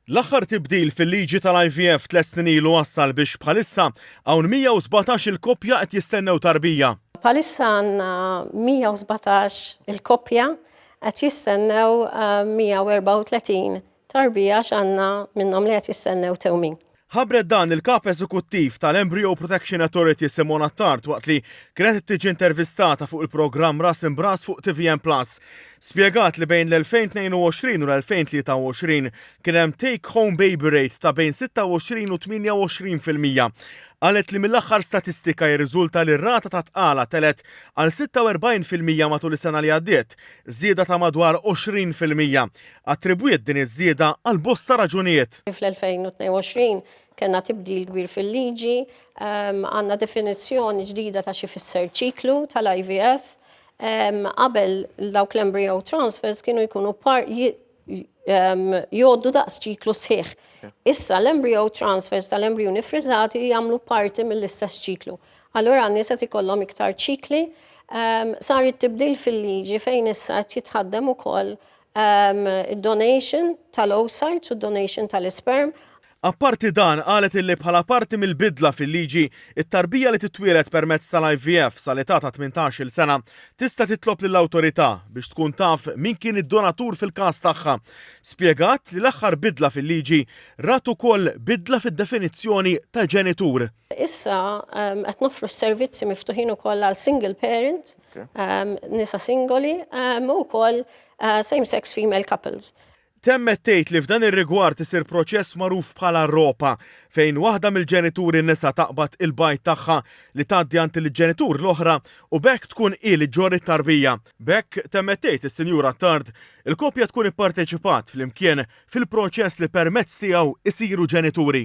L-aħħar tibdil fil-liġi tal-IVF tliet snin ilu wassal biex bħalissa hawn 117 il-koppja qed jistennew tarbija. Bħalissa għandna 117 il-koppja qed jistennew 134 tarbija għax għandna minnhom li qed jistennew tewmin. Ħabbret dan il-Kap Eżekuttiv tal-Embryo Protection Authority Simone Attard waqt li kienet qed tiġi intervistata fuq il-programm Ras Imb'Ras fuq tvm Plus. Spjegat li bejn l-2022 u l-2023 kien hemm take home baby rate ta' bejn 26 u 28 fil-mija. Qalet li mill-aħħar statistika jirriżulta li r-rata ta' tqala telgħet għal 46 fil-mija matul is-sena li għaddiet, żieda ta' madwar 20 fil-mija. attribwiet din iż-żieda għal bosta raġunijiet. Fl-2022 kellna tibdil kbir fil-liġi, għandna definizzjoni ġdida ta' x'ifisser ċiklu tal-IVF. Qabel dawk l-embryo transfers kienu jkunu jgħoddu daqs ċiklu sħiħ. Issa l-embryo transfers tal-embrijuni friżati jagħmlu parti mill-istess ċiklu. Allura n-nies qed ikollhom iktar ċikli. Sar it-tibdil fil-liġi fejn issa qed jitħaddem ukoll id-donation tal-oocytes u d-donation tal-isperm. Apparti dan, qalet illi bħala parti mill-bidla fil-liġi, it-tarbija li titwieled permezz tal-IVF sal-età ta' tmintax-il sena tista' titlob lill-Awtorità biex tkun taf min kien id-donatur fil-każ tagħha. Spjegat li l-aħħar bidla fil-liġi rat ukoll bidla fid-definizzjoni ta' ġenitur. Issa qed noffru s-servizzi miftuħin ukoll għal single parent, nisa singoli, u wkoll same-sex female couples. Temmet tgħid li f'dan ir-rigward isir proċess magħruf bħala ropa, fejn waħda mill-ġenituri nisa taqbad il-bajd tagħha li tgħaddi għand il-ġenitur l-oħra u b'hekk tkun hi li ġġorr it-tarbija. B'hekk, temmet tgħid is-Sinjura Attard, il-koppja tkun ipparteċipat flimkien fil-proċess li permezz tiegħu jsiru ġenituri.